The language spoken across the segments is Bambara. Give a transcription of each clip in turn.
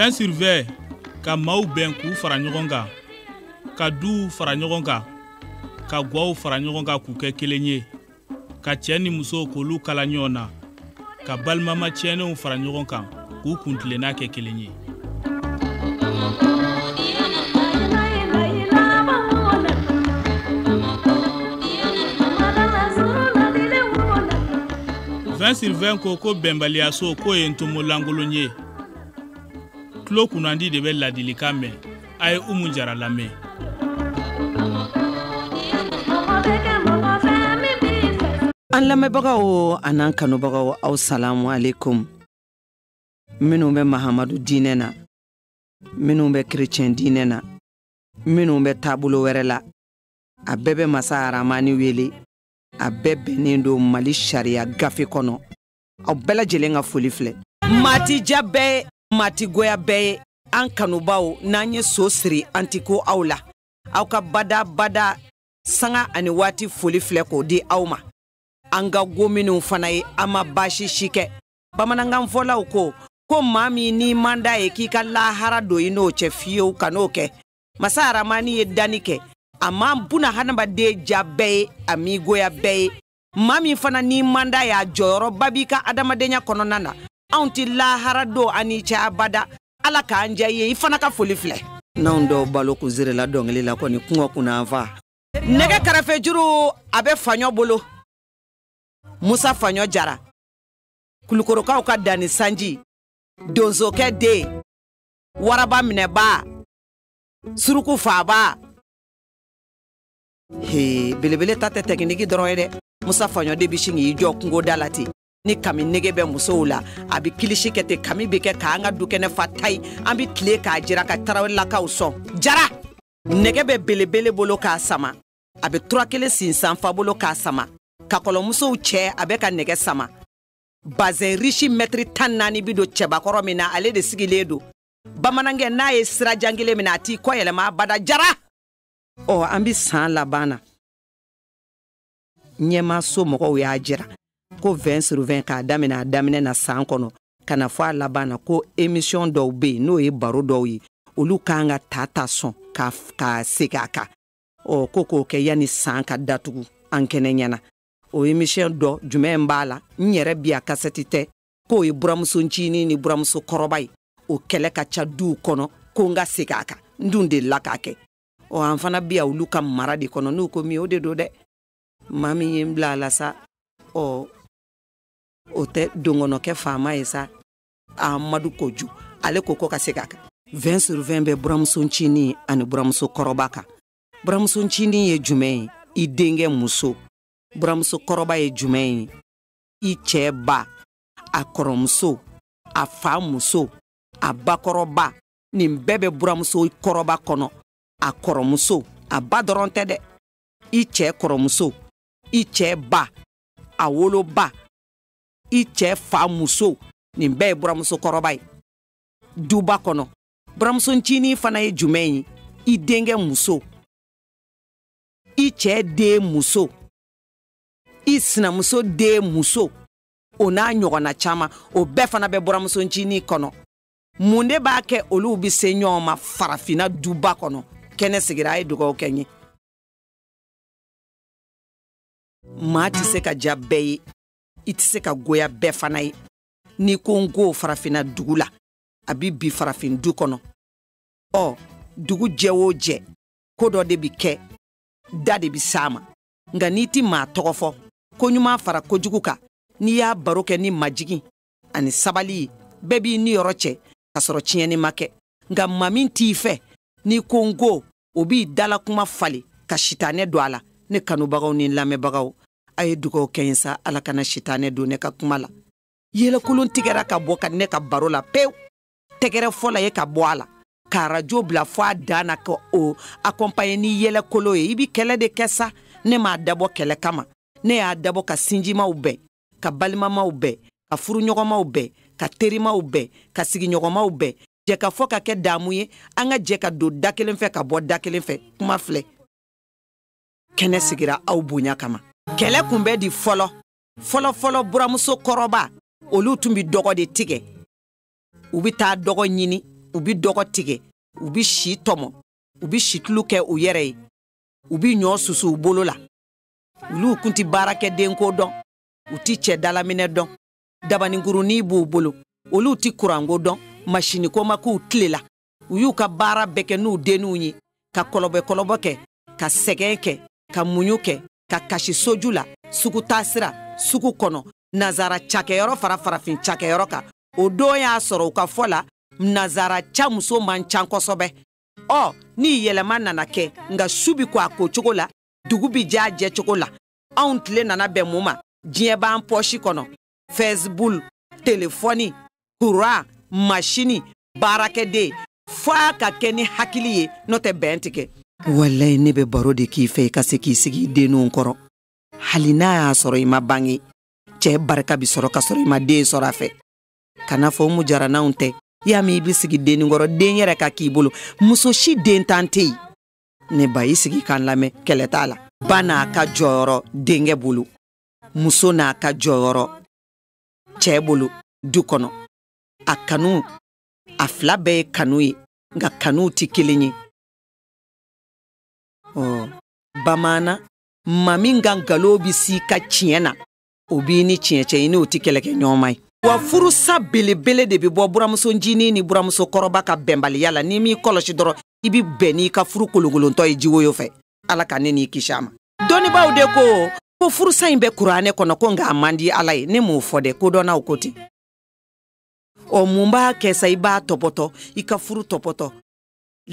vin sur vin ka maaw bɛn k'u fara ɲɔgɔn kan ka duw fara ɲɔgɔn kan ka gwaw fara ɲɔgɔn kan k'u kɛ kelen ye ka cɛ ni muso k'olu kala ɲɔgɔn na ka balimama tiɲɛnenw fara ɲɔgɔn kan k'u kuntilenna kɛ kelen ye vin sur vin ko ko bɛnbaliyaso k'o ye ntomo lankolon ye tulo kunnandi de bɛ ladilikan mɛn a ye umu jara lamɛn an lamɛnbagaw an'an kanubagaw aw salamu alekum minnu bɛ mahamadu diinɛ na minnu bɛ kerecɛn diinɛ na minnu bɛ taabolo wɛrɛ la a bɛɛ bɛ masa aramani wele a bɛɛ bɛnnen don mali sariya gafe kɔnɔ aw bɛɛ lajɛlen ka foli filɛ maa ti ja bɛɛ ye maa ti goya bɛɛ ye an kanubaw n'an ye so siri an ti ko aw la aw ka bada bada sanga ani waati foli filɛ k'o di aw ma an ka go minnu fana ye an ma baasi si kɛ bamanankan fɔlaw ko ko maa min n'i man d'a ye k'i ka lahara don i n'o cɛ fiyewu kan'o kɛ masa aramani ye danni kɛ a ma buna hadamaden ja bɛɛ ye a m'i goya bɛɛ ye maa min fana n'i man d'a y'a jɔyɔrɔba b'i ka adamadenya kɔnɔna na anw tɛ lahara don an n'i cɛ abada ala k'an diya ye i fana ka foli filɛ n'anw dɔw balo kun zerela dɔnkili la kɔni kungo kunna fa nɛgɛ karafe juru a bɛ faɲɔ bolo musa faɲɔ jara kulukorokaw ka danni sanji donzokɛ den waraba minɛba suruku faaba he belebele ta tɛ tɛkiniki dɔrɔn ye dɛ musa faɲɔ de bɛ sin k'i jɔ kungoda la ten ni kami nege bɛ musow la a bɛ kilisi kɛ ten kami bɛ kɛ k'an ka dukɛnɛ fa tayi an bɛ tile k'a jira ka tarawelelakaw sɔn jara nɛgɛ bɛ belebele bolo k'a sama a bɛ tura kelen sinsan fa bolo k'a sama kakɔlɔmusow cɛ a bɛ ka nɛgɛ sama bazɛn risi mɛtiri tan ni naani bi don cɛbakɔrɔ min na ale de sigilen don bamanankɛ n'a ye sira jan kelen mina a t'i kɔ yɛlɛma abada jara ɔ an bɛ san laban na ɲɛmaaso mɔgɔw y'a jira ko 20 sur 20 k'a daminɛ a daminɛ na san kɔnɔ ka na fo a laban na ko emisiyɔn dɔw bɛ yen n'o ye baro dɔw ye olu k'an ka ta ta sɔn ka ka segin a kan ɔ ko k'o kɛ yanni san ka datugu an kɛnɛ ɲɛna o emisiyɔn dɔ jumɛn b'a la n yɛrɛ bi a kasɛti tɛ k'o ye buramuso ncinin ni buramuso kɔrɔba ye o kɛlɛ ka ca duw kɔnɔ ko n ka segin a kan n dun delila k'a kɛ ɔ an fana bi ya olu ka mara de kɔnɔ n'u ko min o de don dɛ maa min ye n bila a la sa ɔ o tɛ donkɔnɔkɛ faama ye sa amadu koju ale ko ko ka segin a kan vɛn sur vɛn bɛ buramuso ncinin ani buramuso kɔrɔba kan buramuso ncinin ye jumɛn ye i denkɛ muso buramuso kɔrɔba ye jumɛn ye i cɛɛ ba a kɔrɔmuso a fa muso a bakɔrɔba nin bɛɛ bɛ buramuso kɔrɔba kɔnɔ a kɔrɔmuso a ba dɔrɔn tɛ dɛ i cɛɛ kɔrɔmuso i cɛɛ ba a woloba i cɛɛ fa muso nin bɛɛ ye buramuso kɔrɔba ye duba kɔnɔ buramuso ncinin fana ye jumɛn ye i denkɛ muso i cɛɛ den muso i sinamuso den muso o n'a ɲɔgɔnna caman o bɛɛ fana bɛ buramuso ncinin kɔnɔ mun de b'a kɛ olu bɛ se ɲɔgɔn ma farafinna duba kɔnɔ kɛnɛ sigira a ye dugaw kɛ n ye maa tɛ se ka ja bɛɛ ye i tɛ se ka goya bɛɛ fana ye n'i ko n ko farafinna dugu la a bɛɛ bi farafin du kɔnɔ ɔ dugu jɛ o jɛ ko dɔ de bɛ kɛ da de bɛ s'a ma nka n'i ti maa tɔgɔ fɔ koɲuman fara kojugu kan n'i y'a baro kɛ ni majigin ani sabali ye bɛɛ b'i niyɔrɔ cɛ ka sɔrɔ tiɲɛni ma kɛ nka maa min t'i fɛ n'i ko n ko o b'i dala kuma falen ka sitanɛ don a la ne kanubagaw ni lamɛnbagaw a ye dugaw kɛ n ye sa ala kana sitanɛ don ne ka kuma la yɛlɛkolon tigɛra ka bɔ ka ne ka baro la pewu tɛgɛrɛfɔla ye ka bɔ a la ka arajo bila fɔ a dan na ka o akɔnpaɲe ni yɛlɛkolon ye i bi kɛlɛ de kɛ sa ne m'a dabɔ kɛlɛ kama ne y'a dabɔ ka sinjimaw bɛn ka balimamaw bɛn ka furuɲɔgɔnmaw bɛn ka terimaw bɛn ka sigiɲɔgɔnmaw bɛn jɛkafɔ ka kɛ daamu ye an ka jɛ ka don da kelen fɛ ka bɔ da kelen fɛ kuma filɛ kɛnɛ sigira aw bonya kama kɛlɛ kun bɛ di fɔlɔ fɔlɔfɔlɔ buramuso kɔrɔba olu tun bi dɔgɔ de tigɛ u bɛ taa dɔgɔ ɲini u bɛ dɔgɔ tigɛ u bɛ si tɔmɔ u bɛ situlu kɛ u yɛrɛ ye u bɛ ɲɔ susu u bolo la olu kun tɛ baarakɛdenko dɔn u tɛ cɛ dalaminɛ dɔn dabaninkurunin b'u bolo olu tɛ kuranko dɔn masiniko ma k'u tile la u y'u ka baara bɛɛ kɛ n'u denninw ye ka kɔlɔbɔkɔlɔbɔ kɛ ka sɛgɛn kɛ ka muɲu kɛ ka kasi soju la sugu taasira sugu kɔnɔ nazara cakɛyɔrɔ fara farafin cakɛyɔrɔ kan o don y'a sɔrɔ u ka fɔ la nazara ca muso man ca kosɛbɛ ɔ ni yɛlɛma nana kɛ nka su bi ko a ko cogo la dugu bi j'a jɛ cogo la anw tile nana bɛn mun ma diɲɛ b'an pɔsi kɔnɔ fɛsibuku telefɔni kuran masini baarakɛden f'a ka kɛ ni hakili ye n'o tɛ bɛn tɛ kɛ walayi ne bɛ baro de k'i fɛ i ka se k'i sigi i denninw kɔrɔ hali n'a y'a sɔrɔ i ma bange cɛɛ barika bi sɔrɔ ka sɔrɔ i ma den sɔrɔ a fɛ ka na fɔ umu jara n'anw tɛ y'a min i bɛ sigi dennin kɔrɔ den yɛrɛ ka k'i bolo muso si dentan tɛ yen ne ba i sigi k'an lamɛn kɛlɛ t'a la ba n'a ka jɔyɔrɔ denkɛ bolo muso n'a ka jɔyɔrɔ cɛɛ bolo du kɔnɔ a kanu a fila bɛɛ ye kanu ye nka kanuw tɛ kelen ye ɔ bamanan maa min ka nkalon bɛ s'i ka tiɲɛ na o b'i ni tiɲɛ cɛ i n'o tɛ kɛlɛkɛ ɲɔgɔnma ye wa furusa belebele de bɛ bɔ buramuso ncinin ni buramuso kɔrɔba ka bɛnbaliya la n'i m'i kɔlɔsi dɔrɔn i bɛ bɛn n'i ka furu kolonkolontɔ ye jiwoyo fɛ ala ka ne n'i kisi a ma dɔnnibaaw de ko ko furusa in bɛ kuranɛ kɔnɔ ko nka a man di ala ye ne m'o fɔ dɛ kodɔnnaw ko ten ɔ mun b'a kɛ sa i b'a tɔpɔtɔ i ka furu tɔpɔtɔ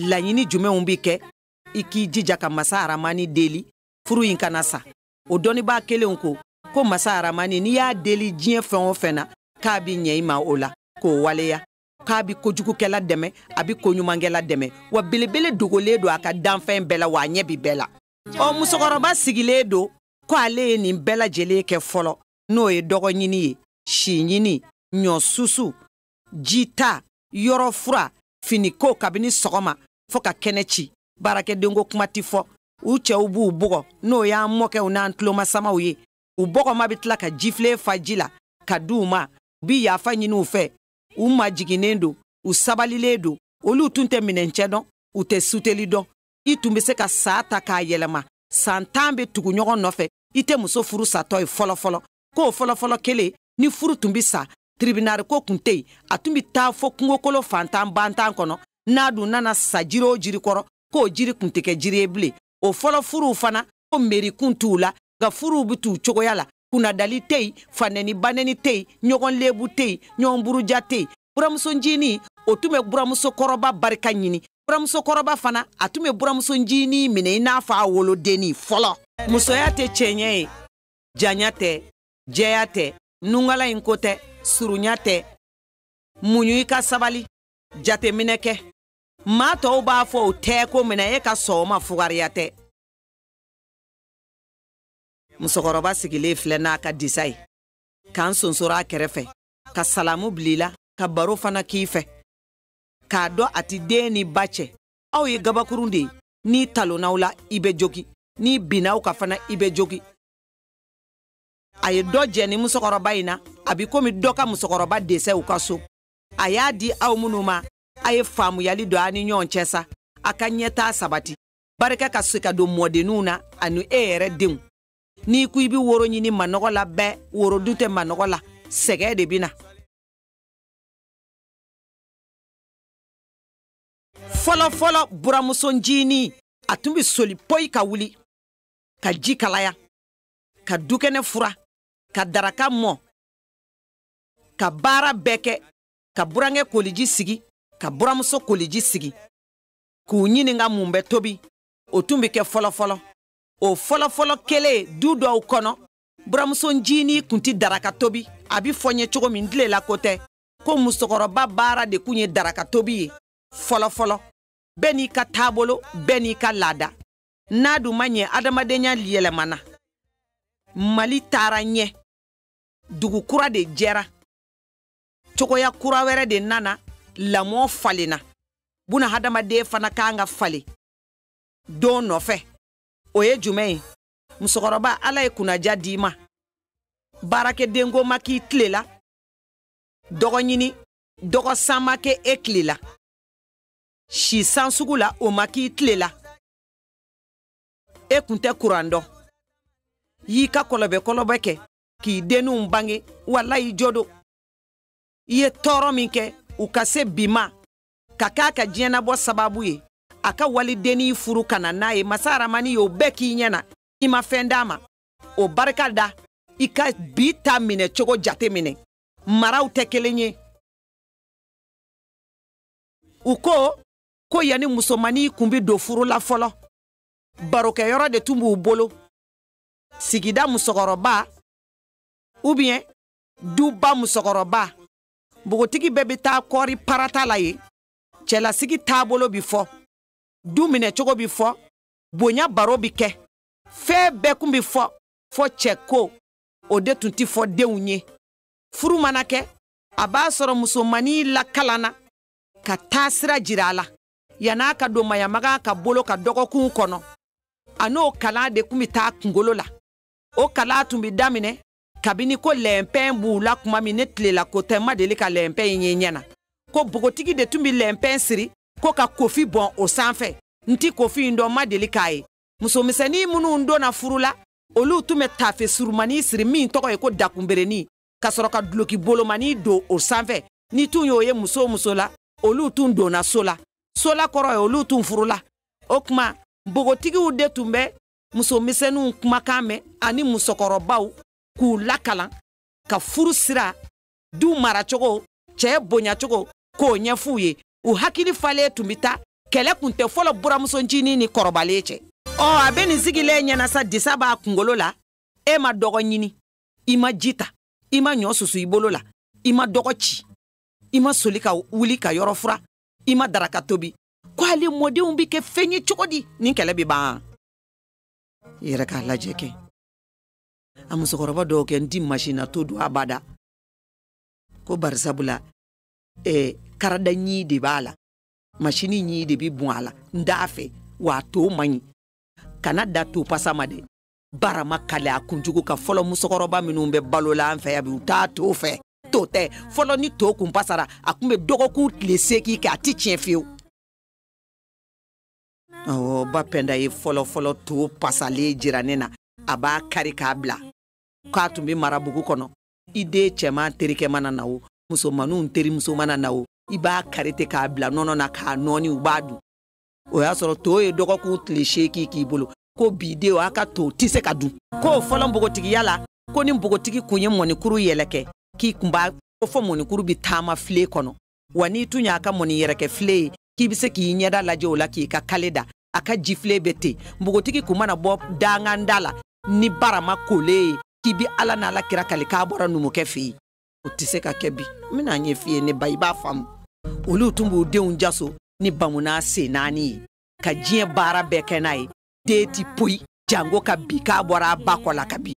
laɲini jumɛnw bɛ kɛ i k'i jija ka masa aramani deli furu in kana sa o dɔnnibaa kelenw ko ko masa aramani n'i y'a deli diɲɛ fɛn o fɛn na k'a bɛ ɲɛ i ma o la k'o waleya k'a bi kojugukɛla dɛmɛ a bi koɲumankɛla dɛmɛ wa belebele dogolen don a ka danfɛn bɛɛ la wa a ɲɛ bi bɛɛ la ɔ musokɔrɔba sigilen don ko ale ye nin bɛɛ lajɛlen kɛ fɔlɔ n'o ye dɔgɔ ɲini ye si ɲini ɲɔ susu jita yɔrɔ furan finiko kabini sɔgɔma fɔɔ ka kɛnɛ ci baarakɛdenko kuma tɛ fɔ u cɛw b'u bugɔ n'o y'an mɔkɛw n'an tulomasamaw ye u bɔgɔma bɛ tila ka jifilen fa ji la ka di u ma u bi yafa ɲini u fɛ u majiginnen don u sabalilen don olu tun tɛ minɛncɛ dɔn u tɛ suteli dɔn i tun bɛ se ka san ta k'a yɛlɛma san tan bɛ tugu ɲɔgɔn nɔfɛ i tɛ muso furu satɔ ye fɔlɔfɔlɔ k'o fɔlɔfɔlɔ kelen ni furu tun bɛ sa tiribinali ko tun tɛ yen a tun bɛ taa fɔ kungokolon fantan bantan kɔnɔ n'a dun nana sa jiri o jiri kɔrɔ k'o jiri tun tɛ kɛ jiri ye bilen o fɔlɔ furuw fana ko meri tun t'u la nka furuw bɛ t'u cogoya la kunnadali tɛ yen fanɛni banɛni tɛ yen ɲɔgɔn lebu tɛ yen ɲɔgɔn buruja tɛ yen buramuso ncinin o tun bɛ buramuso kɔrɔba barika ɲini buramuso kɔrɔba fana a tun bɛ buramuso ncinin minɛ i n'a fɔ a wolodennin fɔlɔ musoya tɛ cɛɲɛ ye janya tɛ jɛya tɛ nungala in ko tɛ surunya tɛ muɲu i ka sabali jateminɛ kɛ maa tɔw b'a fɔ o tɛ ko minɛ e ka sɔgɔma fugariya tɛ musokɔrɔba sigilen filɛ n'a ka disa ye k'an sonsoro a kɛrɛfɛ ka salamu bila i la ka baro fana k'i fɛ k'a dɔn a ti den ni ba cɛ aw ye gabakurun de ye n'i talonn'aw la i bɛ jogi n'i binn'aw kan fana i bɛ jogi a ye dɔ jɛ ni musokɔrɔba in na a bi komi dɔ ka musokɔrɔba dɛsɛ u ka so a y'a di aw minnu ma a ye faamuyali don a ni ɲɔgɔn cɛ sa a ka ɲɛtaa sabati barika ka se ka don mɔdenninw na ani e yɛrɛ denw n'i ko i bɛ woro ɲini manɔgɔ la bɛɛ woro dun tɛ manɔgɔ la sɛgɛn de bɛ na fɔlɔfɔlɔ buramuso ncinin a tun bɛ soli poyi ka wuli ka ji kalaya ka dukɛnɛ furan ka daraka mɔ ka baara bɛɛ kɛ ka burankɛ koliji sigi ka buramuso koliji sigi k'u ɲininka mun bɛ tobi o tun bɛ kɛ fɔlɔfɔlɔ o fɔlɔfɔlɔ kelen du dɔw kɔnɔ buramuso ncinin kun tɛ daraka tobi a bɛ fɔ n ye cogo min tilela ko tɛ ko musokɔrɔba baara de kun ye daraka tobi ye fɔlɔfɔlɔ bɛɛ n'i ka taabolo bɛɛ n'i ka laada n'a dun ma ɲɛ adamadenya yɛlɛmana mali taara ɲɛ dugu kura de jɛra cogoya kura wɛrɛ de nana lamɔ falenna buna hadamaden fana kan ka falen don nɔfɛ o ye jumɛn ye musokɔrɔba ala ye kunnaja d'i ma baarakɛdenko ma k'i tile la dɔgɔ ɲini dɔgɔ san ma kɛ e tile la si san sugu la o ma k'i tile la e kun tɛ kuran dɔn y'i ka kɔlɔbɛ kɔlɔbɛ kɛ k'i denninw bange walayi jo don i ye tɔɔrɔ min kɛ u ka se bi ma ka k'a ka diɲɛnabɔ sababu ye a ka walidennin furu ka na n'a ye masa aramani y'o bɛɛ k'i ɲɛ na i ma fɛn d'a ma o barika da i ka bi ta minɛ cogo jate minɛ maraw tɛ kelen ye u ko ko yanni musomannin kun bɛ don furu la fɔlɔ barokɛyɔrɔ de tun b'u bolo sigida musokɔrɔba ou bien duba musokɔrɔba npogotigi bɛɛ bɛ taa kɔɔri parata la yen cɛlasigi taabolo bi fɔ du minɛcogo bi fɔ bonya baro bi kɛ fɛn bɛɛ kun bi fɔ fɔ cɛko o de tun ti fɔ denw ye furu mana kɛ a b'a sɔrɔ musomannin lakalanna ka taasira jira a la yan'a ka don maɲamagan ka bolo kan dɔgɔkun kɔnɔ a n'o kalan de tun bɛ taa kungolo la o kalan tun bɛ daminɛ kabini ko lɛnpɛn b'u la tuma min ne tile la ko tɛ n ma deli ka lɛnpɛn in ye ɲɛ na ko bogotigi de tun bɛ lɛnpɛn siri ko ka kofi bɔn o sanfɛ n ti kofi in dɔn n ma deli k'a ye musomisɛnnin minnu donna furu la olu tun bɛ tafe surumani siri min tɔgɔ ye ko dakunberenin ka sɔrɔ ka duloki bolomani don o sanfɛ ne tun y'o ye muso o muso la olu tun donna so la so la kɔrɔ ye olu tun furula o tuma npogotigiw de tun bɛ musomisɛnninw kumakan mɛn ani musokɔrɔbaw k'u lakalan ka furu sira du maracogo cɛ bonyacogo k'o ɲɛf'u ye u hakili falen tun bɛ taa kɛlɛ kun tɛ fɔlɔ buranmuso ncinin ni kɔrɔbalen cɛ ɔ a bɛ nin sigilen ɲɛna sa disa b'a kunkolo la e ma dɔgɔ ɲini i ma ji ta i ma ɲɔ susu i bolo la i ma dɔgɔ ci i ma soli ka wuli ka yɔrɔ furan i ma daraka tobi ko ale mɔdenw bɛ kɛ fɛn ye cogo di nin kɛlɛ bɛ ban i yɛrɛ k'a lajɛ kɛ a musokɔrɔba dɔw ko n ti masina to dun abada ko bari sabula eh, karada ɲin de b'a la masini ɲin de bɛ bɔn a la n t'a fɛ wa a to man ɲi kana da to pasa ma dɛ barama kale a kunjugu ka fɔlɔ musokɔrɔba minnu bɛ balo la an fɛ yan bi u t'a to fɛ to tɛ fɔlɔ ni to kun pasara a kun bɛ dɔgɔkun tile seegin kɛ a ti tiɲɛ fiyewu awɔ ba pɛnda ye fɔlɔfɔlɔ to pasalen jira ne na a b'a kari k'a bila k'a tun bɛ mara bugu kɔnɔ i den cɛman terikɛ mana na o musomaninw terimuso mana na o i b'a kari ten k'a bila nɔnɔ na k'a nɔɔni u b'a dun o y'a sɔrɔ to ye dɔgɔkun tile seegin k'i bolo ko bi denw a ka to tɛ se ka dun ko fɔlɔ npogotigiya la ko ni npogotigi kun ye mɔnikuru yɛlɛkɛ k'i kun b'a ko fɔ mɔnikuru bɛ taama filen kɔnɔ wa n'i tun y'a ka mɔni yɛlɛkɛ filen ye k'i bɛ se k'i ɲɛda lajɛ o la k'i ka kale da a ka jifilen bɛ ten npogotigi kun mana bɔ danganda la ni barama kolen ye k'i bi ala n'ala kira kali k'a bɔra numukɛ fɛ yen o tɛ se ka kɛ bi n bɛn'a ɲɛf'i ye ne ba i b'a faamu olu tun b'u denw jaso ni bamunan sen naani ye ka diɲɛ baara bɛɛ kɛ n'a ye den ti poyi janko ka bin k'a bɔra a ba kɔ la ka bin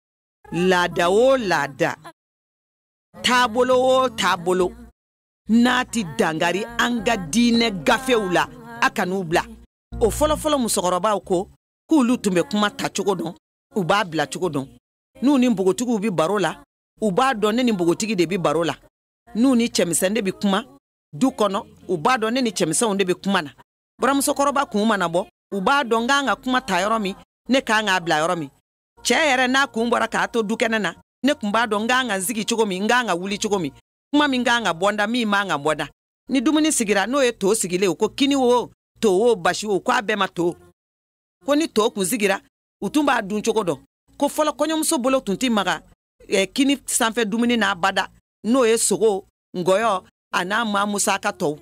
laada o laada taabolo o taabolo n'a ti dankari an ka diinɛ gafew la a kan'u bila o fɔlɔfɔlɔ musokɔrɔbaw ko k'olu tun bɛ kuma tacogo dɔn u b'a bilacogo dɔn n'u ni npogotigiw bɛ baro la u b'a dɔn ne ni npogotigi de bɛ baro la n'u ni cɛmisɛn de bɛ kuma du kɔnɔ u b'a dɔn ne ni cɛmisɛnw de bɛ kuma na buramusokɔrɔba kun mana bɔ u b'a dɔn n kan ka kuma ta yɔrɔ min ne kan k'a bila yɔrɔ min cɛ yɛrɛ n'a kun bɔra k'a to dukɛnɛ na ne kun b'a dɔn n kan ka n sigi cogo min n kan ka wuli cogo min kuma min kan ka bɔ n da min man ka bɔ n da ni dumuni sigira n'o ye to sigilen o ko kini wo to wo basi wo ko a bɛɛ ma to ko ni to kun sigira u tun b'a dun cogo dɔn ko fɔlɔ kɔɲɔmuso bolo tun tɛ maga eh, kini sanfɛ dumuni na abada n'o ye sogo ngɔyɔ a n'a maa musaka tɔw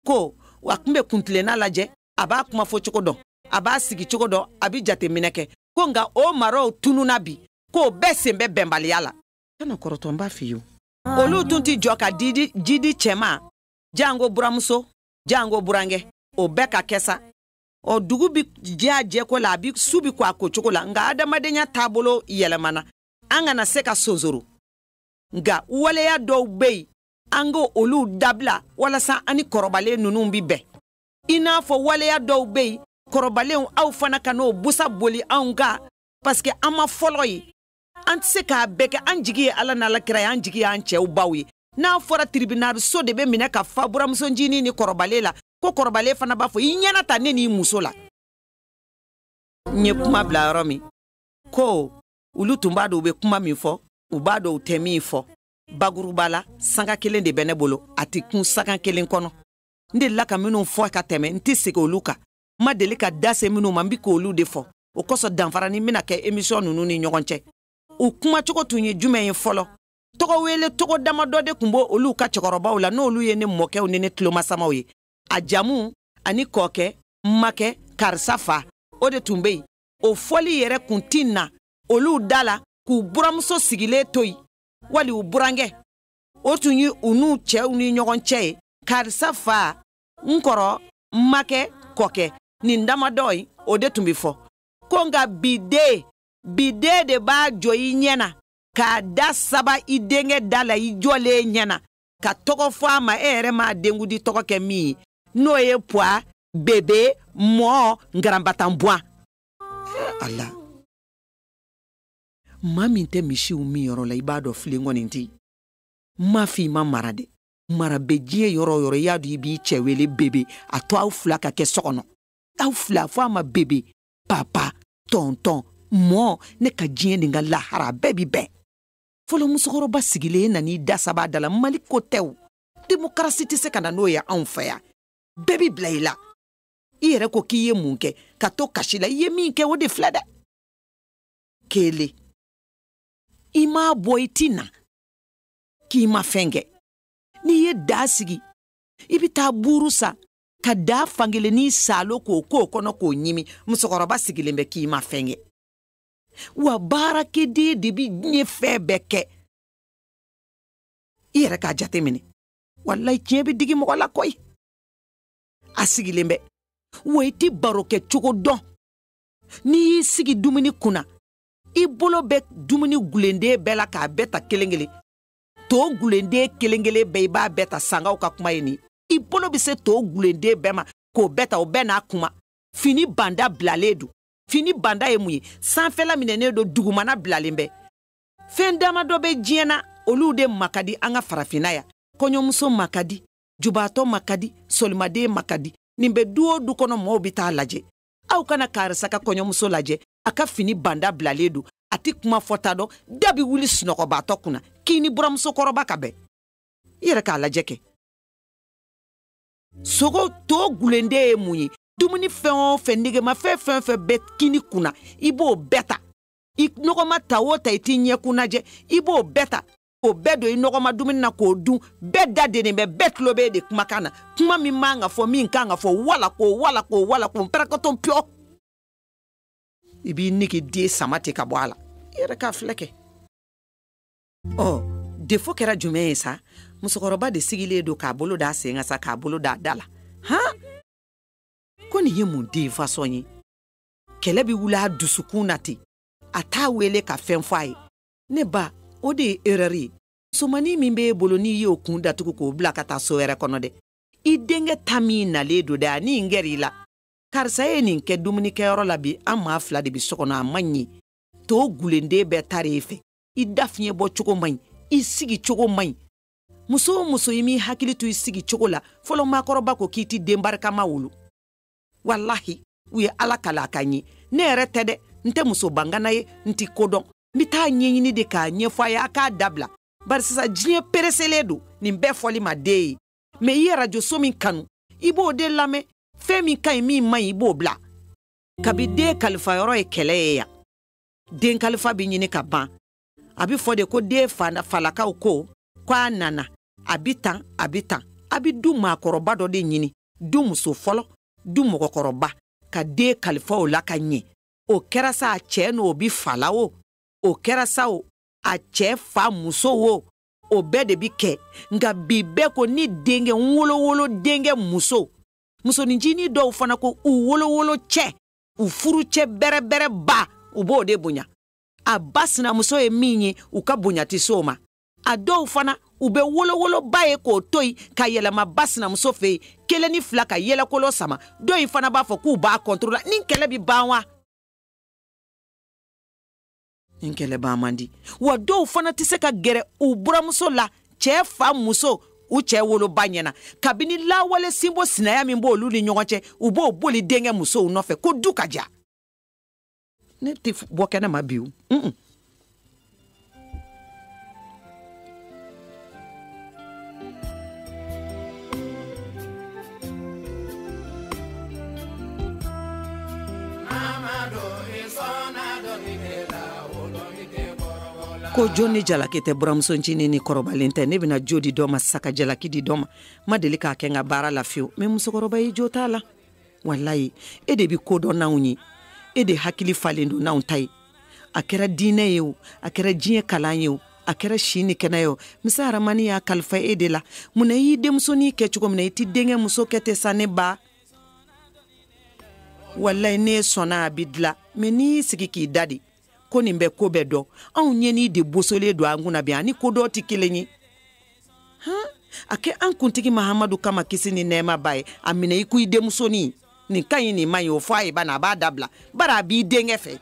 ko a tun bɛ kuntilenna lajɛ a b'a kuma fɔ cogo dɔn a b'a sigi cogo dɔn a bɛ jateminɛ kɛ ko nka o maraw tununna bi k'o bɛɛ sen bɛ bɛnbaliya la kana kɔrɔtɔ n b'a f'i ye olu tun tɛ jɔ ka ji di cɛ ma jango buramuso jango burankɛ o bɛɛ ka kɛ sa ɔ dugu bi jɛ a jɛko la a bi su bi ko a ko cogo la nka adamadenya taabolo yɛlɛmana an kana se ka sonsoro nka waleya dɔw bɛ yen an ka olu dabila walasa an ni kɔrɔbalen ninnu bi bɛn i n'a fɔ waleya dɔw bɛ yen kɔrɔbalenw aw fana kan'o busan boli anw kan paseke an ma fɔlɔ ye an tɛ se k'a bɛɛ kɛ an jigi ye ala n'ala kira ye an jigi y'an cɛw baw ye n'a fɔra tiribinali so de bɛ minɛ ka fa buramuso ncinin ni kɔrɔbalen la ko kɔrɔbalen fana b'a fɔ i ɲɛna ta ne n'i muso la n ye kuma bila yɔrɔ min ko olu tun b'a dɔn u bɛ kuma min fɔ u b'a dɔn u tɛ min fɔ bakuruba la sanga kelen de bɛ ne bolo a tɛ kun sanga kelen kɔnɔ n delila ka minnu fɔ ka tɛmɛ n tɛ segin olu kan n ma deli ka da se minnu ma n bi k'olu de fɔ o kosɔn danfaranin bɛna kɛ emisiyɔn ninnu ni ɲɔgɔn cɛ u kumacogo tun ye jumɛn ye fɔlɔ tɔgɔ wele tɔgɔ damadɔ de tun b'olu ka cɛkɔrɔbaw la n'olu ye ne mɔkɛw ni ne tulomasamaw ye a jamu ani kɔɔkɛ makɛ karisa fa o de tun bɛ yen o fɔli yɛrɛ kun ti na olu da la k'u buramuso sigilen to yen wali u burankɛ o tun ye u n'u cɛw ni ɲɔgɔn cɛ ye karisa fa n kɔrɔ n makɛ kɔkɛ nin damadɔ ye o de tun bɛ fɔ ko nka bi den bi den de b'a jɔ i ɲɛ na k'a da saba i denkɛ da la i jɔlen ɲɛ na ka tɔgɔ fɔ a ma e yɛrɛ m'a denkundi tɔgɔ kɛ min ye n'o ye puwa bebe mɔɔ nkaranbatanbuwan ala maa min tɛ misiw min yɔrɔ la i b'a dɔn filen kɔni tɛ yen n m'a fɔ i ma mara dɛ mara bɛ diɲɛ yɔrɔ o yɔrɔ i y'a dɔn i b'i cɛ wele bebe a to aw fila ka kɛ so kɔnɔ aw fila fɔ a ma bebe papa tɔntɔn mɔ ne ka diɲɛ ni n ka lahara bɛɛ bi bɛn fɔlɔ musokɔrɔba sigilen e nan'i da saba da la mali ko tɛ o demokarasi tɛ se ka na n'o ye anw fɛ yan bɛɛ bi bila i la i yɛrɛ ko k'i ye mun kɛ ka to kasi la i ye min kɛ o de filɛ dɛ kelen i m'a bɔ i ti na k'i ma fɛn kɛ n'i ye daa sigi i bɛ taa buuru san ka daa fankelennin saalo k'o k'o kɔnɔ k'o ɲimi musokɔrɔba sigilen bɛ k'i ma fɛn kɛ wa baarakɛden de bɛ diɲɛ fɛn bɛɛ kɛ i yɛrɛ k'a jateminɛ walayi tiɲɛ bɛ digi mɔgɔ la koyi a sigilen bɛ wa i tɛ baro kɛ cogo dɔn n'i y'i sigi dumuni kunna i bolo bɛ dumuni gulenden bɛɛ la k'a bɛɛ ta kelen kelen to gulenden kelen kelen bɛɛ i b'a bɛɛ ta sangaw ka kuma ye nin i bolo bɛ se to gulenden bɛɛ ma k'o bɛɛ ta o bɛɛ n'a kuma fini banda bilalen don fini banda ye mun ye sanfɛla minɛnen don dugumana bilalen bɛ fɛn dama dɔ bɛ diɲɛ na olu de ma ka di an ka farafinna yan kɔɲɔmuso ma ka di jubaatɔ ma ka di solimaden ma ka di nin bɛ du o du kɔnɔ mɔɔw bɛ taa lajɛ aw ka na karisa ka kɔɲɔmuso lajɛ a ka fini banda bilalen don a tɛ kuma fɔta dɔn da bɛ wuli sunɔgɔbaatɔ kunna k'i ni buramuso kɔrɔba ka bɛn i yɛrɛ k'a lajɛ kɛ sogo to gulenden ye mun ye dumuni fɛn o fɛn negema fɛn fɛn fɛn bɛ kini kunna i b'o bɛɛ ta i nɔgɔma ta o ta i t'i ɲɛkun lajɛ i b'o bɛɛ ta o bɛɛ don i nɔgɔma dumuni na k'o dun bɛɛ da denen bɛ bɛɛ tulo bɛ e de kumakan na kuma min man ka fɔ min kan ka fɔ wala ko wala ko wala ko pɛrɛkɔtɔn piyɔ i b'i nege den sama ten ka bɔ a la i yɛrɛ k'a filɛ kɛ ɔ defo kɛra jumɛn ye sa musokɔrɔba de sigilen don k'a bolo d'a sen kan sa k'a bolo d'a da la han ko nin ye mun den fasɔn ye kɛlɛ bɛ wuli a dusukun na ten a t'a wele ka fɛn fɔ a ye ne ba o de ye erɛri ye musomannin min b'e bolo n'i y'o kun datugu k'o bila ka taa so wɛrɛ kɔnɔ dɛ i denkɛ ta min nalen don dɛ ani n gɛrɛ i la karisa ye nin kɛ dumunikɛyɔrɔ la bi an maa fila de bi so kɔnɔ a man ɲi to gulenden bɛɛ tara e fɛ i da fiɲɛ bɔ cogo man ɲi i sigi cogo man ɲi muso o muso i m'i hakili to i sigi cogo la fɔlɔ maakɔrɔba ko k'i tɛ den barikama wolo walahi u ye ala kala ka ɲi ne yɛrɛ tɛ dɛ n tɛ muso bangana ye n tɛ ko dɔn n bɛ t'a ɲɛɲini de k'a ɲɛfɔ a ye a k'a dabila bari sisan diɲɛ pereselen don nin bɛɛ fɔli ma den ye mɛ i ye arajoso min kanu i b'o de lamɛn fɛn min ka ɲi min man ɲi i b'o bila kabi den kalifayɔrɔ ye kɛlɛ ye yan den kalifa bɛ ɲini ka ban a bɛ fɔ de ko den falakaw ko ko a nana a bɛ tan a bɛ tan a bɛ du maakɔrɔba dɔ de ɲini du muso fɔlɔ du mɔgɔkɔrɔba ka den kalifa o la ka ɲɛ o kɛra sa a cɛ n'o bɛ fala o o kɛra sa o a cɛ fa muso o o bɛɛ de bi kɛ nka bi bɛɛ ko ni denkɛ n wolowolo denkɛ muso musonin ncinin dɔw fana ko u wolowolo cɛ u furu cɛ bɛrɛbɛrɛ ba u b'o de bonya a ba sinamuso ye min ye u ka bonya tɛ se o ma a dɔw fana u bɛ wolowoloba ye k'o to yen ka yɛlɛma ba sinamuso fɛ yen kelen ni fila ka yɛlɛkolo sama dɔ in fana b'a fɔ k'u b'a kɔntoro la nin kɛlɛ bɛ ban wa nin kɛlɛ ban man di wa dɔw fana tɛ se ka gɛrɛ u buramuso la cɛ fa muso u cɛ woloba ɲɛ na kabini lawale sinbo sinaya min b'olu ni ɲɔgɔn cɛ u b'o boli denkɛ musow nɔfɛ ko du ka diya ne tɛ bɔ kɛnɛ ma bi o ko jo ni jalaki tɛ buramuso ncinin ni kɔrɔbalen cɛ ne bɛna jo di dɔ ma sa ka jalaki di dɔ ma n ma deli k'a kɛ n ka baara la fiyewu mɛ musokɔrɔba i jo t'a la walayi e de bɛ ko dɔn n'anw ye e de hakili falen don n'anw ta ye a kɛra diinɛ ye o a kɛra diɲɛ kalan ye o a kɛra si ni kɛnɛya ye o masa rahamani y'a kalifa e de la mun na i y'i denmusonin kɛ cogo min na i t'i denkɛ muso kɛ ten sa ne ba walayi ne sɔnna a bɛ dilan mɛ n'i y'i sigi k'i da de ko nin bɛ ko bɛɛ dɔn anw ɲɛni de bosolen don an kunna bi a ni ko dɔn tɛ kelen ye han a kɛ an kuntigi mahamadu kama kisi ni nɛɛma b'a ye a minɛ i ko i denmusonin nin ka ɲi nin man ɲi o fɔ a ye bani a b'a dabila bari a b'i denkɛ fɛ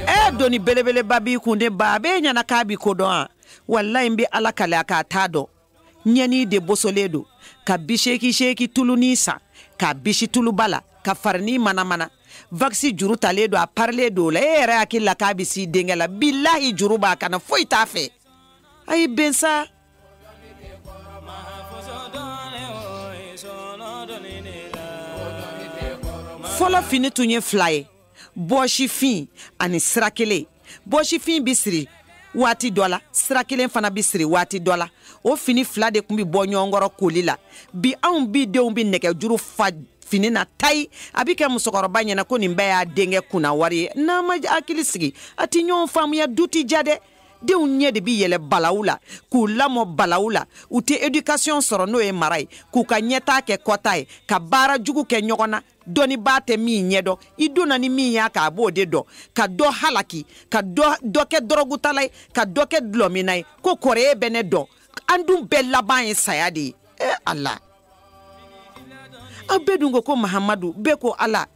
e doni belebeleba b'i kun de ba b'e ɲɛ na k'a bɛ ko dɔn a walayi n bɛ ala kali a k'a t'a dɔn ɲɛni de bosolen don ka biseeki seeki tulunin san k'a bisi tuluba la ka farinin manamana wakisi juru talen don a parilen don o la e yɛrɛ hakili la k'a bɛ s'i denkɛ la bilahi juru b'a kan na foyi t'a fɛ a ye bɛn sa fɔlɔ fini tun ye fila ye bɔsifin ani sira kelen bɔsifin bɛ siri waati dɔ la sira kelen fana bɛ siri waati dɔ la o fini fila de tun bɛ bɔ ɲɔgɔn kɔrɔ koli la bi anw bi denw bɛ nɛgɛjuru fa fini na tayi a bɛ kɛ musokɔrɔba ɲɛ na ko nin bɛɛ y'a denkɛ kunna wari ye n'a ma hakili sigi a tɛ ɲɔgɔn faamuya du tɛ diya dɛ denw ɲɛ de bi yɛlɛ balawu la k'u lamɔ balawu la u tɛ éducation sɔrɔ n'o ye mara ye k'u ka ɲɛtaa kɛ kɔtaa ye ka baara jugu kɛ ɲɔgɔn na dɔnnibaa tɛ min ɲɛdɔn i donna ni min y'a k'a b'o de dɔn ka dɔ halaki ka dɔ kɛ dɔrɔgutala ye ka dɔ kɛ dulɔminna ye k'o kɔrɔ ye bɛ ne dɔn an dun bɛɛ laban ye saya de ye e ala aw bɛɛ dun ko ko mahamadu bɛɛ ko ala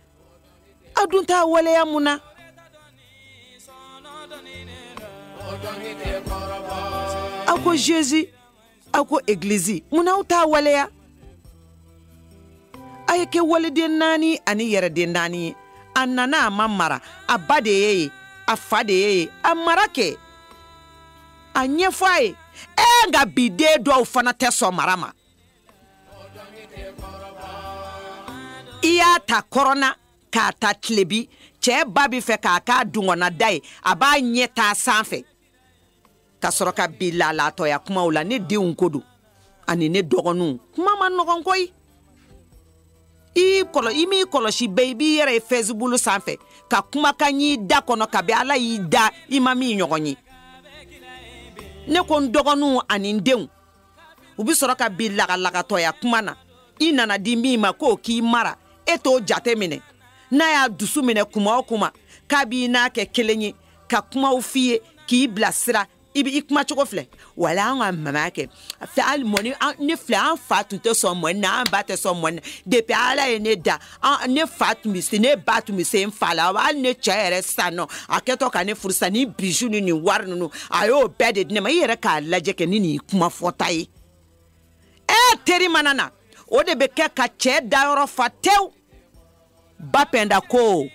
aw dun t'a waleya mun na aw ko Jésus aw ko egilizi mun na aw t'a waleya a ye kɛ waliden naani ani yɛrɛden naani ye a nana a ma mara a ba de y'e ye a fa de y'e ye a mara kɛ a ɲɛfɔ a ye ee nka bi den dɔw fana tɛ sɔn mara ma i y'a ta kɔrɔn na ka taa tilebin cɛ ba bɛ fɛ k'a k'a dungɔnada ye a b'a ɲɛ taa sanfɛ ka sɔrɔ ka bin lalatɔya kumaw la ne denw ko don ani ne dɔgɔninw kuma man nɔgɔn koyi i kɔlɔ i m'i kɔlɔsi bɛɛ i b'i yɛrɛ ye Facebook sanfɛ ka kumakan y'i da kɔnɔ kabi ala y'i da i ma min ɲɔgɔn ye ne ko n dɔgɔninw ani n denw u bɛ sɔrɔ ka bin lagalagatɔya kuma na i nana di min ma k'o k'i mara e t'o jate minɛ n'a y'a dusu minɛ kuma o kuma k'a b'i n'a kɛ kelen ye ka kumaw f'i ye k'i bilasira i bɛ i kuma cogo filɛ wala an ka mama kɛ fɛ hali mɔni ni filɛ an fa tun tɛ sɔn mɔni na an ba tɛ sɔn mɔni na depuis ala ye ne da an ne fa tun bɛ se ne ba tun bɛ se n fa la hali ne cɛ yɛrɛ sisan nɔ a kɛtɔ ka ne furusa ni bijou ni nin wari ninnu a y'o bɛɛ de di ne ma i yɛrɛ k'a lajɛ kɛ ni nin kuma fɔta ye e teri mana na o de bɛ kɛ ka cɛɛ dayɔrɔ fa tew ba pɛnda ko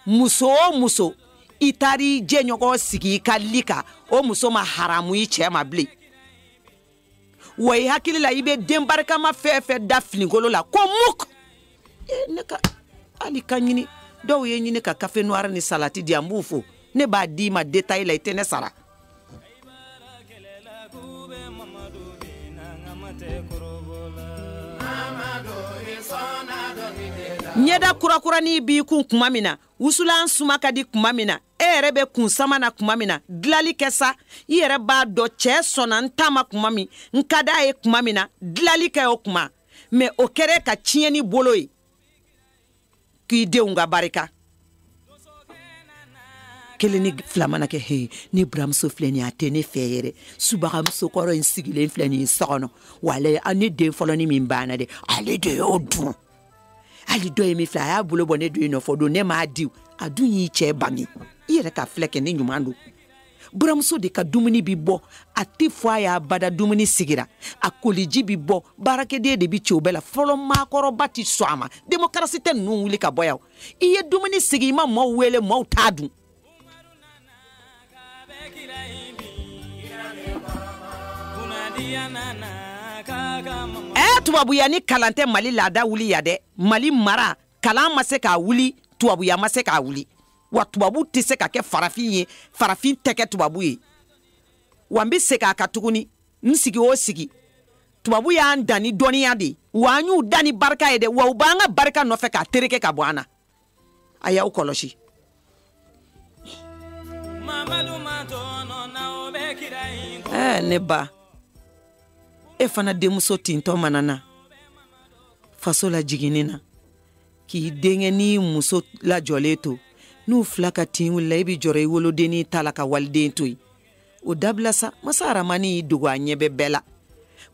muso o muso i taar'i jɛɲɔgɔn sigi i ka lit kan o muso ma haramu i cɛɛ ma bilen wa i hakili la i bɛ den barikama fɛn fɛn da finikolo la ko muk e, ne ka hali ka ɲini dɔw ye ɲini ka kafe noir ni salati di an b'u fo ne b'a d'i ma détail la i tɛ ne sara ɲɛda kurakurani b'i kun kuma min na wusulan suma ka di kuma min na e yɛrɛ bɛ kunsama na kuma min na dilali kɛ sa i yɛrɛ b'a dɔn cɛɛ sɔnna n ta ma kuma min n ka d'a ye kuma min na dilali kɛ o kuma mɛ o kɛra ka tiɲɛni bolo ye k'i denw ka barika kelen ni fila mana kɛ he ne buramuso filɛ nin a tɛ ne fɛ yɛrɛ subagamuso kɔrɔ in sigilen filɛ nin ye so kɔnɔ walayi ne den fɔlɔni min banna dɛ ale de y'o dun hali dɔ ye min filɛ a y'a bolo bɔ ne don yen nɔ fɔ don ne m'a di a dun y'i cɛ bange i yɛrɛ ka filɛ kɛ ne ɲuman don buramuso de ka dumuni bi bɔ a tɛ fɔ a ye abada dumuni sigira a koliji bi bɔ baarakɛden de bi ci o bɛɛ la fɔlɔ maakɔrɔba ti sɔn a ma demokarasi tɛ ninnu wuli ka bɔ yan i ye dumuni sigi i ma maaw wele maaw t'a dun ɛ tubabuya ni kalan tɛ mali laada wuli yan dɛ mali mara kalan ma se k'a wuli tubabuya ma se k'a wuli wa tubabu tɛ se ka kɛ farafin ye farafin tɛ kɛ tubabu ye wa n bɛ segin a kan tuguni n sigi o sigi tubabu y'an dan ni dɔnniya de ye wa an y'u dan ni barika ye dɛ wa u b'an ka barika nɔfɛ k'a tereke ka bɔ an na a y'aw kɔlɔsi ɛɛ ne ba e fana denmuso tintɔ mana na faso la jiginni na k'i denkɛnin muso lajɔlen to n'u fila ka tin wulila i e bi jɔrɔ i wolodennin ta la ka waliden to yen o dabila sa masa aramani y'i dogo a ɲɛ bɛ bɛɛ la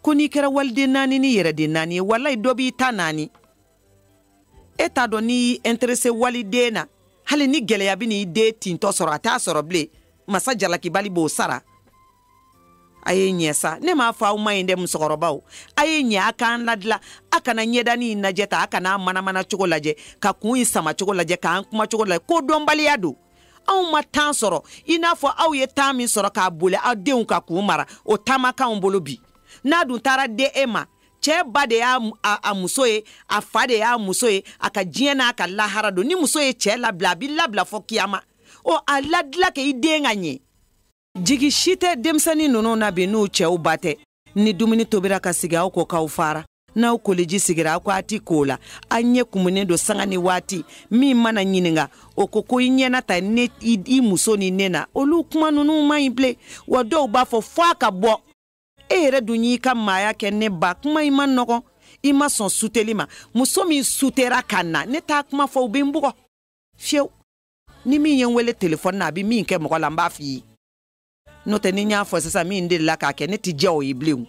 ko n'i kɛra waliden naani ni yɛrɛden naani ye walayi dɔ b'i ta naani e t'a dɔn n'i y'i interese waliden na hali ni gɛlɛya bɛ n'i den tintɔ sɔrɔ a t'a sɔrɔ bilen masa jalakibali b'o sara a ye ɲɛ sa ne m'a fɔ aw man ɲi dɛ musokɔrɔbaw a ye ɲɛ a k'an ladila a kana ɲɛdanin lajɛ tan a kana manamana cogo lajɛ ka kun in sama cogo lajɛ k'an kuma cogo lajɛ ko dɔnbaliya don anw ma tan sɔrɔ i n'a fɔ aw ye tan min sɔrɔ k'a boli aw denw kan k'u mara o tan ma k'anw bolo bi n'a dun taara dɛ e ma cɛɛ ba de y'a muso ye a fa de y'a muso ye a ka diɲɛ n'a ka lahara don ni muso ye cɛɛ labila a b'i labila fɔ kiyama o a ladila kɛ i den ka ɲɛ jigi si tɛ denmisɛnnin ninnu na bi n'u cɛw ba tɛ ni dumuni tobira ka sigi aw ko k'aw fara n'aw koliji sigira aw ko a ti k'o la an ɲɛ kumunen don sanga ni waati min mana ɲininga o ko ko i ɲɛna ta ne i muso ni ne na olu kuma ninnu man ɲi bilen wa dɔw b'a fɔ fɔ a ka bɔ e yɛrɛ dun y'i ka maaya kɛ ne ba kuma in man nɔgɔn i ma sɔn suteli ma muso min sutera ka na ne t'a kuma fɔ u bɛ n bugɔ fiyewu ni min ye n wele telefɔni na a bɛ min kɛ mɔgɔ la n b'a f'i ye n'o tɛ ni n y'a fɔ sisan min delila k'a kɛ ne tɛ diya o ye bilen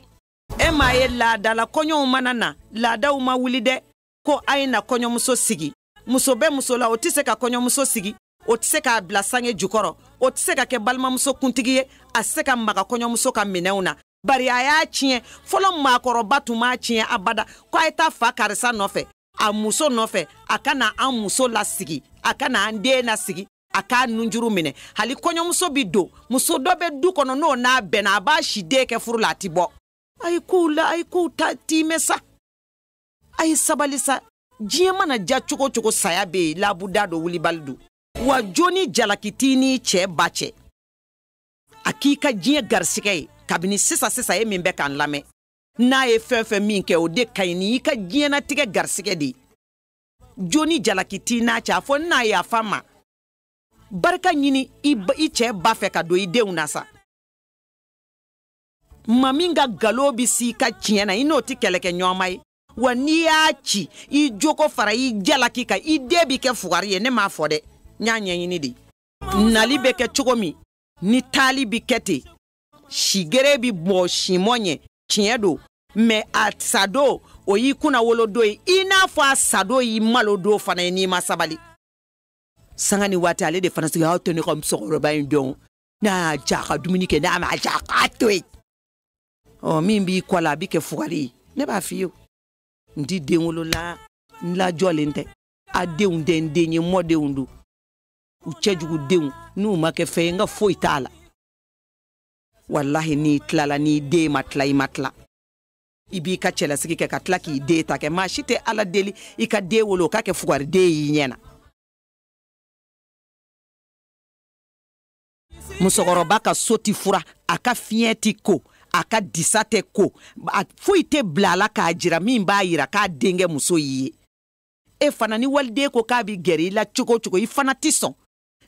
e m'a ye laadala kɔɲɔw mana na laadaw ma wuli dɛ ko a ye na kɔɲɔmuso sigi muso bɛ muso la o tɛ se ka kɔɲɔmuso sigi o tɛ se k'a bila sange jukɔrɔ o tɛ se ka kɛ balimamuso kuntigi ye a se ka maga kɔɲɔmuso ka minɛnw na bari a y'a tiɲɛ fɔlɔ maakɔrɔba tun m'a tiɲɛ abada ko a ye taa fa karisa nɔfɛ a muso nɔfɛ a ka na an muso lasigi a ka na an den lasigi a k'a nunjuru minɛ hali kɔɲɔmuso bɛ don muso dɔ bɛ du kɔnɔ n'o n'a bɛnna a b'a si de kɛ furu la a tɛ bɔ a ye kow la a ye kow ta tiimɛ sa a ye sabali sa diɲɛ mana ja cogo cogo saya bɛ yen labuda don wulibali don wa jo ni jalaki t'i n'i cɛɛ ba cɛ a k'i ka diɲɛ garisigɛ ye kabini sisan sisan ye min bɛ k'an lamɛn n'a ye fɛn fɛn min kɛ o de ka ɲi ni i ka diɲɛnatigɛ garisigɛ de ye jo ni jalaki t'i n'a cɛ a fɔ na yafa ma barika ɲini i cɛɛ ba fɛ ka don i denw na sa maa min ka ngalon bi s'i ka tiɲɛ na i n'o tɛ kɛlɛkɛ ɲɔgɔnma ye wa n'i y'a ci i jo k'o fara i jalaki kan i den bi kɛ fugari ye ne m'a fɔ dɛ n y'a ɲɛɲini de nali bɛ kɛ cogo min ni taali bi kɛ ten sigere bi bɔ simɔ ɲɛ tiɲɛ don mɛ a sadon o y'i kunnawolodon ye i n'a fɔ a sadon y'i malodon fana ye n'i ma sabali sanga ni waati ale de fana sigi aw to ne ka musokɔrɔba in dɔn n'a diya a ka dumuni kɛ n'a ma diya a k'a to yen ɔ min b'i kɔ la a bɛ kɛ fugari ye ne b'a f'i ye n ti den wolola n lajɔlen tɛ a denw tɛ n den ye mɔdenw don u cɛjugudenw n'u ma kɛ fɛn ye n ka foyi t'a la walahi n'i tilala n'i den ma tila i ma tila i b'i ka cɛlasigi kɛ ka tila k'i den ta kɛ maa si tɛ ala deli i ka den wolo o ka kɛ fugariden y'i ɲɛ na musokɔrɔba ka so ti furan a ka fiɲɛ ti ko a ka disa tɛ ko a foyi tɛ bila a la k'a jira min b'a yira k'a denkɛ muso y'i ye e fana ni waliden ko k'a bi gɛrɛ i la cogo o cogo i fana ti sɔn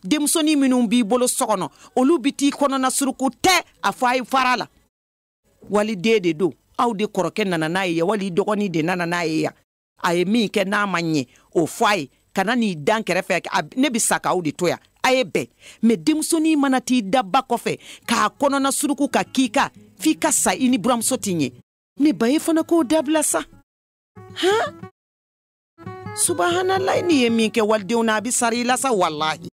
denmusonin minnu b'i bolo so kɔnɔ olu bi t'i kɔnɔna suruku tɛ a fɔ a ye fara a la waliden de don aw de kɔrɔkɛ nana n'a ye yan wali i dɔgɔnin de nana n'a ye yan a ye min kɛ n'a ma ɲɛ o fɔ a ye kana n'i da n kɛrɛfɛ ne bɛ sa k'aw de to yan a ye bɛn mɛ denmusonin mana t'i da a ba kɔfɛ k'a kɔnɔna suruku ka k'i kan f'i ka sa i ni buranmuso ti ɲɛ ne ba ye fana k'o dabila sa han subahanalayi n'i ye min kɛ walidenw na a bɛ sara i la sa walahi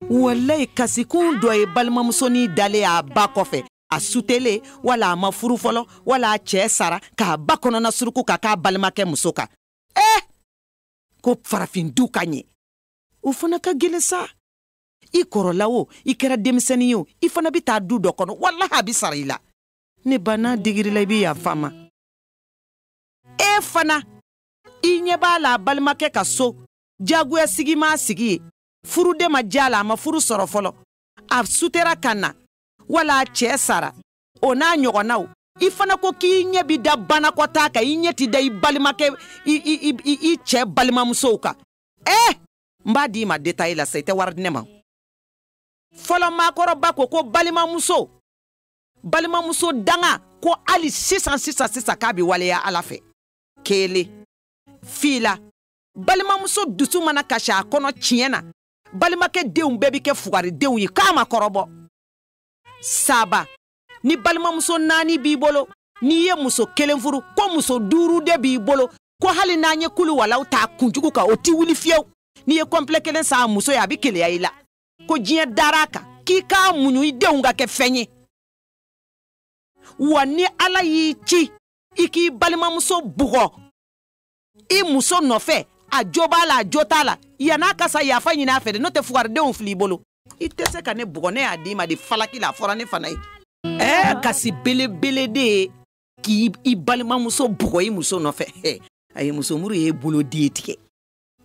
walayi kasikun dɔ ye balimamusonin dalen a ba kɔfɛ a sutele wala a ma furu fɔlɔ wala a cɛɛ sara k'a ba kɔnɔna suruku ka k'a balimakɛ muso kan ee eh! ko farafin du ka ɲɛ o fana ka gwɛlɛn sa i kɔrɔla o i kɛra denmisɛnin ye o i fana bɛ taa du dɔ kɔnɔ walahi a bɛ sara i la ne ba n'a digira i la i bɛ yafa ma e fana i ɲɛ b'a la a balimakɛ ka so jagoya sigi m'a sigi yen furu de ma diya a la a ma furu sɔrɔ fɔlɔ a sutera ka na wala a cɛɛ sara o n'a ɲɔgɔnnaw i fana ko k'i ɲɛ bi da banakɔtaa kan i ɲɛ ti da i balimakɛ i cɛɛ balimamusow kan ee n b'a d'i ma detaye la sa i tɛ wari di ne ma fɔlɔ maakɔrɔba ko ko balimamuso balimamuso danga ko hali sisan sisan sisan k'a bi waleya ala fɛ kelen fila balimamuso dusu mana kasi a kɔnɔ tiɲɛ na balimakɛ denw bɛɛ bɛ kɛ fugaridenw ye k'a ma kɔrɔbɔ saba ni balimamuso naani b'i bolo n'i ye muso kelen furu ko muso duuru de b'i bolo ko hali n'an ye kulu walaw ta k'u jigi u kan o ti wuli fiyewu n'i ye kɔnpilɛ kelen san muso ye a bɛ keleya i la ko diɲɛ dara a kan k'i k'a muɲu i denw ka kɛ fɛn ye wa ni ala y'i ci i k'i balimamuso bugɔ i muso nɔfɛ a jo b'a la a jo t'a la yan'a ka sa yafa ɲini a fɛ dɛ n'o tɛ fugaridenw fil'i bolo i tɛ se ka ne bugɔ ne y'a d'i ma de falaki la a fɔra ne fana ye ɛɛ kasi belebele de ye k'i balimamuso bugɔ i muso nɔfɛ a ye musomuru ye bolo den tigɛ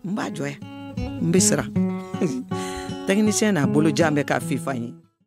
n b'a jɔ yan n bɛ siran tɛkinisiyɛn n'a bolo jan bɛ k'a fifa ye